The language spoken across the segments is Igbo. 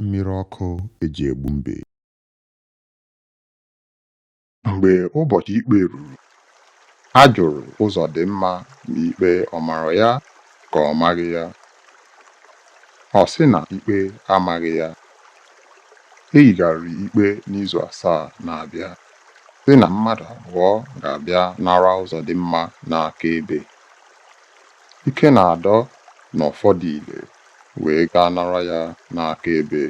Mmiri ọkụ e ji egbu mbe. Mgbe ụbọchị ikpe ruru, a jụrụ Ụzọdịmma ma ikpe ọ mara ya ka ọ maghị ya. Ọ sị na ikpe amaghị ya. E yigharịrị ikpe n'izu asaa na-abịa, sị na mmadụ abụọ ga-abịa nara Ụzọdịmma n'akaebe. Ikenadọ na Ọfọdile. wee gaa nara ya n'akaebe.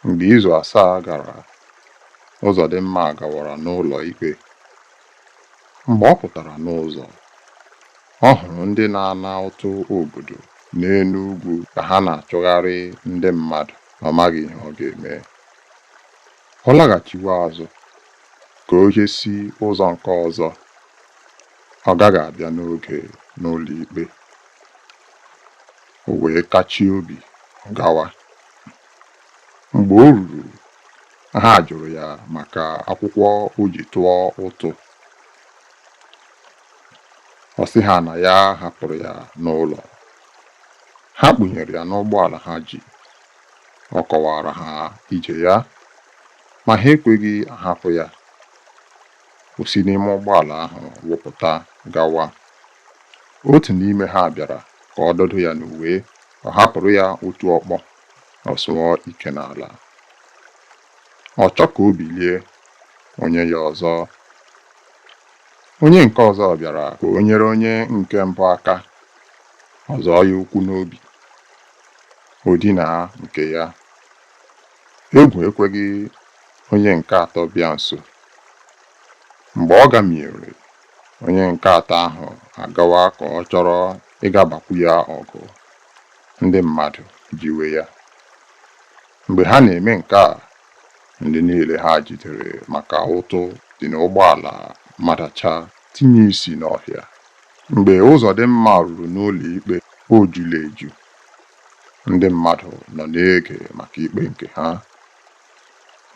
Mgbe izu asaa gara, Ụzọdịmma gawara n'ụlọ ikpe. Mgbe ọ pụtara n'ụzọ, ọ hụrụ ndị na-ana ụtụ obodo n'elu ugwu ka ha na-achụgharị ndị mmadụ, ọ maghị ihe ọ ga-eme. Ọ laghachiwe azụ ka o je si ụzọ nke ọzọ. Ọ gaghị abịa n'oge n'ụlọikpe, o wee tachie obi gawa. Mgbe o ruru, ha jụrụ ya maka akwụkwọ o ji tụọ ụtụ. Ọ sị ha na ya hapụrụ ya n'ụlọ. Ha kpụnyere ya n'ụgbọala ha ji. Ọ kọwaara ha ije ya, ma ha ekweghị ahapụ ya. O si n'ime ụgbọala ahụ wụpụta gawa. Otu n'ime ha bịara ka ọ dọdo ya n'uwe, ọ hapụrụ ya otu ọkpọ, ọ sụọ ike n'ala. Ọ chọọ ka o bilie, o nye ya ọzọ. Onye nke ọzọ bịara ka o nyere onye nke mbụ aka, ọ zọọ ya ụkwụ n'obi, o dinaa nke ya. Egwu ekweghị onye nke atọ bịa nso. Mgbe ọ gamiere, onye nke atọ ahụ agawa ka ọ chọrọ ịga bakwu ya ọgụ, ndị mmadụ jiwe ya. Mgbe ha na-eme nke a, ndị niile ha jidere maka ụtụ dị n'ụgbọala madacha tinye isi n'ọhịa. Mgbe Ụzọdịmma ruru n'ụlọikpe, o jula eju. Ndị mmadụ nọ na-ege maka ikpe nke ha.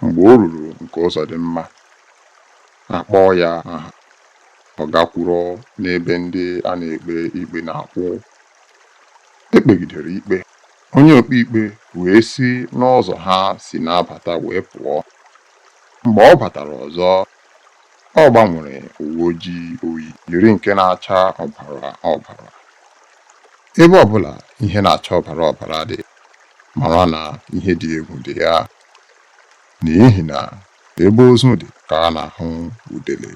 Mgbe o ruru nke Ụzọdịmma, a kpọọ ya aha, ọ gaa kwụrụ n'ebe ndị a na-ekpe ikpe na-akwụ. E kpegidere ikpe, onye okpeikpe wee si n'ụzọ ha si na-abata wee pụọ. Mgbe ọ batara ọzọ, ọ gbanwere uwe ojii o yi, yiri nke na-acha ọbara ọbara. ebe ọbụla ihe na-acha ọbara ọbara dị mara na ihe dị egwu dị ya n'ihi na ebe ozu dị ka a na-ahụ udele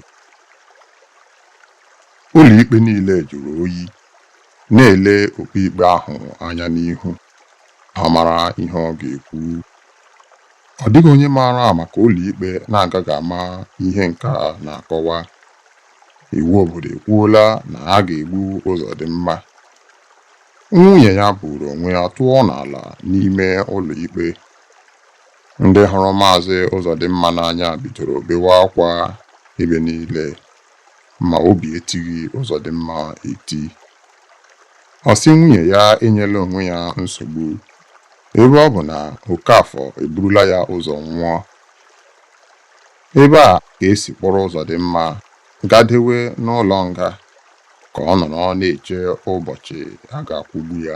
ụlọikpe niile jụrụ oyi na-ele okpeikpe ahụ anya n'ihu ha mara ihe ọ ga-ekwu ọ dịghị onye maara maka ụlọikpe na-agaghị ama ihe nke a na-akọwa Iwu obodo ekwuola na a ga-egbu Ụzọdịmma. Nwunye ya buuru onwe ya tụọ n'ala n'ime ụlọikpe. Ndị hụrụ Maazị Ụzọdịmma n'anya bidoro bewe akwa ebe niile ma obi etighị Ụzọdịmma eti. Ọ sị nwunye ya enyela onwe ya nsogbu ebe ọ bụ na Okafọ eburula ya ụzọ nwụọ. Ebe a ka e si kpụrụ Ụzọdịmma gadewe n'ụlọ nga ka ọ nọrọ na-eche ụbọchị a ga-akwụgbu ya.